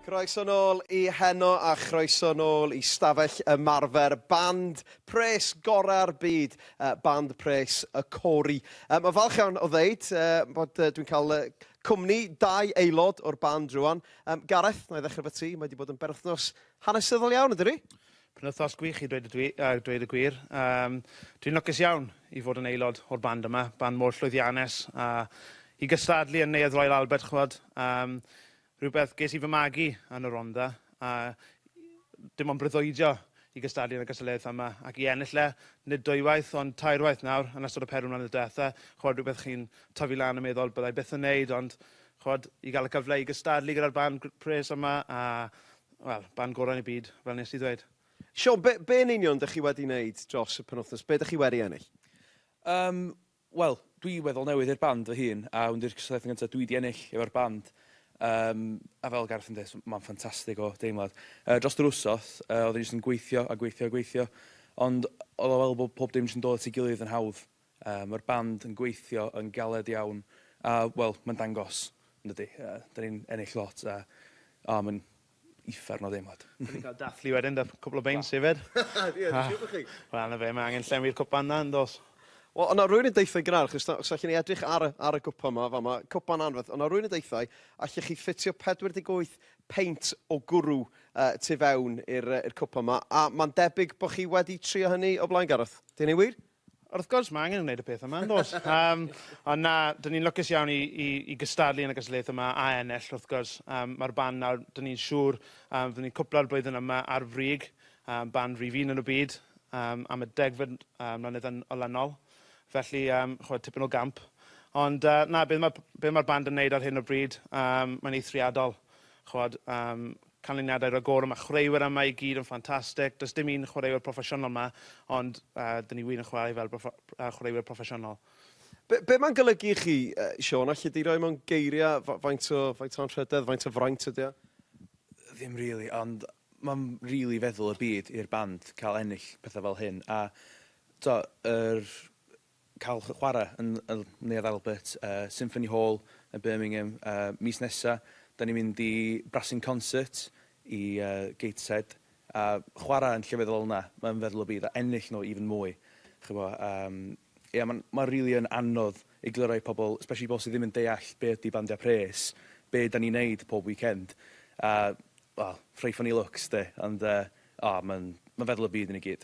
Croeso nôl i Heno a chroeso nôl i stafell ymarfer band pres gorau'r byd, band pres y Cory. Mae'n falch iawn o ddeud bod dwi'n cael cwmni dau aelod o'r band rwan. Gareth, na i ddechrau efo ti, mae wedi bod yn berwythnos hanesyddol iawn, ydy ni? Penwythnos gwych i dweud y, dwi, uh, dweud y gwir. Um, dwi'n lwcus iawn i fod yn aelod o'r band yma, band mor llwyddiannus, a i gystadlu yn Neuadd Royal Albert, chwod. Um, Rhywbeth ges i fy magu yn y Rhondda a dim ond breuddwydio i gystadlu yn y gystadleuaethau yma ac i ennill e, nid dwywaith ond tair waith nawr yn ystod y pedwar mlynedd diwetha', ch'od rhywbeth chi'n tyfu lan yn meddwl byddai byth yn neud ond ch'od i ga'l y cyfle i gystadlu gyda'r band gr- pres yma a wel, band gorau yn y byd fel nes i ddweud. Siôn, be, be yn union dych chi wedi neud dros y penwythnos? Be dych chi wedi ennill? Yym, Wel, dwi weddol newydd i'r band fy hun, a hwn 'di'r cystadleuaeth yn gyntaf dwi 'di ennill efo'r band, yym, a fel Gareth yn deud, so ma'n ffantastig o deimlad. Yy, drost yr wsos, yy, oedden ni jyst yn gweithio a gweithio a gweithio, ond oedd o fel bod pob dim jyst yn dod at ei gilydd yn hawdd. Yy, ma'r band yn gweithio yn galed iawn, a, wel, ma'n dangos, yndydi? Yy, 'dan ni'n ennill lot, a, o, ma'n, uffern o ddeimlad. Dwi 'di cael dathlu wedyn 'da cwpl o beins hefyd. Ie, dwi'n siŵr bo' chi. Wel, 'na fe, mae angen llenwi'r cwpan 'na, yn does? Wel, o' 'na rywun yn deutha i gynharach, achos os allwn ni edrych ar y ar y gwpan 'ma, fama, cwpan anferth, o' 'na rywun yn deutha i, allech chi ffitio 48 peint o gwrw yy tu fewn i'r yy i'r cwpan 'ma, a ma'n debyg bo' chi wedi trio hynny o blaen, Gareth. 'Di hynny'n wir? Wrth gwrs, mae angen gwneud y peth yma, yn does? um, ond na, dyn ni'n lwcus iawn i, i, i gystadlu yn y gystadleuaeth yma a ennill, wrth gwrs. Um, Mae'r band nawr, dyn ni'n siŵr, um, fydden ni'n cwpla'r blwyddyn yma ar frig, um, band rhif un yn y byd, um, am y degfed um, mlynedd yn olynol. Felly, um, chwyd, tipyn o gamp. Ond uh, na, beth mae'r ma band yn neud ar hyn o bryd, um, mae'n eithriadol. ch'od, am canlyniadau ragorol, mae chwaraewyr yma i gyd yn ffantastig, does dim un chwaraewyr proffesiynol yma, ond uh, dyn ni wir yn chwarae fel proffo, uh, chwaraewyr proffesiynol. Be, be mae'n golygu i chi, uh, Sean, allai di roi mewn geiriau faint o, faint o anrhydedd, faint o fraint ydy o? Ddim really, ond mae'n really feddwl y byd i'r band cael ennill pethau fel hyn, a to, yr cael chwarae yn y Neuadd Albert, Symphony Hall yn Birmingham mis nesaf. Dan ni'n mynd i Brassing Concert i Gateshead a chwarae yn llefydd fel 'na, mae'n feddwl y bydd a ennill nhw even mwy. Ch'bo yym ia ma'n ma' rili yn anodd egluro i pobl, especially pobl sy ddim yn deall be ydi bandiau pres, be dan ni'n neud pob weekend a wel, rhoi funny looks 'de ond yy o ma'n ma'n feddwl y byd i ni gyd.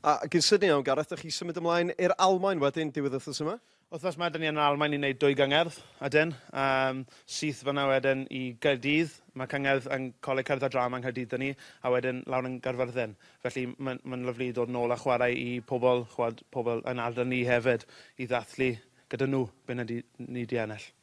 A gyn Sydney, iawn Gareth, dych chi symud ymlaen i'r Almaen wedyn diwedd wythnos yma? Wythnos ma da ni yn yr Almaen i wneud dwy gyngerdd ydyn, yym syth fanna wedyn i Gaerdydd, ma cyngerdd yn Coleg Cerdd a Drama yng Nghaerdydd da ni, a wedyn lawr yn Gaerfyrddin. Felly ma'n ma'n lyfli i dod nôl a chwarae i pobl, ch'wod, pobl yn ardal ni hefyd, i ddathlu gyda nhw be na di ni di ennill.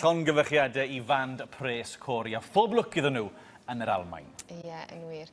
llongyfarchiadau i fand pres Cori a phob lwc iddyn nhw yn yr Almain. Ie, yeah, yn wir.